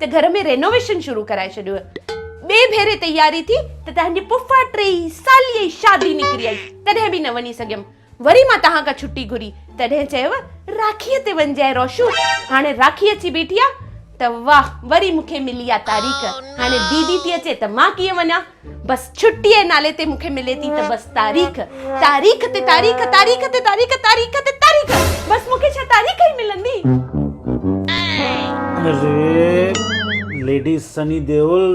ته گهر ۾ رينوويشن شروع ڪرائي ڇڏيو هي. ٻئي ڀيري تياري ٿي ته تنهنجي پڦا ٽيئي ساليء جي شادي نڪري آئي، تڏهن به نه وڃي سگهيم. وري مان توهان کان ڇٽي گهري، تڏهن چيو، راکيء تي وڃجانء روشو، هاڻي راکي اچي بيٺي آ ته واهه، وري مون کي ملي آ تاريخ، هاڻي ديدي ٿي اچي ته مان ڪيئن وڃان؟ بس ڇٽي جي نالي تي مونکي ملي ٿي ته بس تاريخ تاريخ تي تاريخ تاريخ تي تاريخ تاريخ تي تاريخ بس مونکي ڇا تاريخ ئي ملندي اري ليڊي سني ديول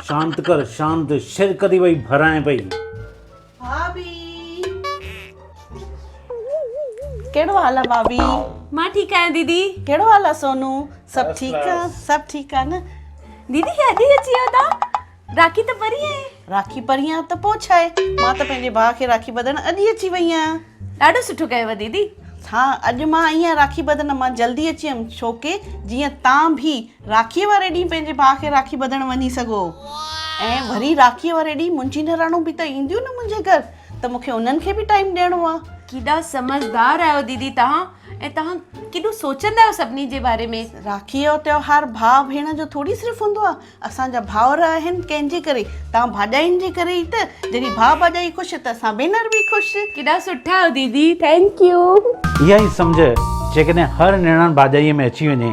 شانت ڪر شانت شرڪ ٿي پئي ڀرائين پئي ڀاڀي ڪهڙو حال آ ڀاڀي مان ٺيڪ آهيان ديدي ڪهڙو حال آ سونو سڀ ٺيڪ آ سڀ ٺيڪ آ نه ديدي کي اڄ ئي اچي ويو تان راکي ته پرين آهي راکي پرين آ ته پوء ڇا آهي مان ته پنهنجي ڀاء کي راکي ٻڌڻ اڄ ئي اچي وئي آهيان ڏاڍو سٺو ڪيو ديدي ها اڄ مان آئي آهيان راکي ٻڌڻ مان جلدي اچي ويم ڇوڪي جيئن تان به راکيء واري ڏينهن پنهنجي ڀاء کي راکي ٻڌڻ وڃي سگهو ۽ وري راکيء واري ڏينهن منهنجي نراڻون به ته اينديون نه منهنجي گهر ته مون کي انهن کي به ٽائيم ڏيڻو آ. ڪيڏا سمجهدار آهيو ديدي توهان ۽ توهان ڪيڏو سوچندا آهيو سڀني جي باري ۾. راکيء جو تهوار ڀاء ڀيڻ جو ٿوري صرف هوندو آ اسان جا ڀائر آهن ڪنهن جي ڪري توهان ڀاڄاين جي ڪري ئي ته جڏهن ڀاء ڀاڄائي خوش ته اسان ڀينر به خوش. ڪيڏا سٺا آهيو ديدي ٿينڪ يو. اها ئي سمجهه جيڪڏهن هر نڻان ڀاڄائيء ۾ اچي وڃي